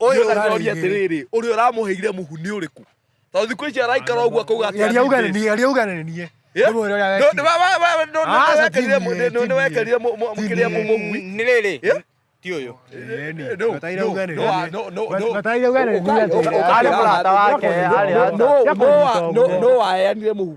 ũyũ ũrarĩria atĩrĩrĩ ũrĩa ũramũheire mũhu nĩ ũrĩkũ tondũ thikũ ici araikara ũguo akauga atĩaria uganenie aria uganenie nĩwekerire mũkĩrĩa mũmũgui nĩ rĩrĩ ti ũyũ nĩwaheanire mũhu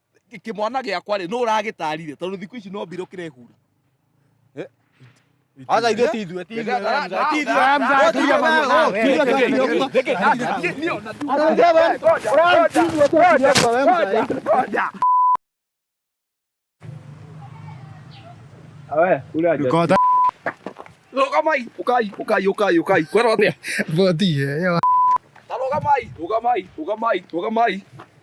kĩmwana gĩakwa rĩ nũ ũragĩtarire tondũ thikũ ici no mbirũ kĩrehura Acha ithuĩ ti ithuĩ, ti ithuĩ. Ndũkota rũgamai ũkai ũkai ũkai ũkai kwera atĩa boti ĩyo. ta rũgamai rũgamai rũgamai rũgamai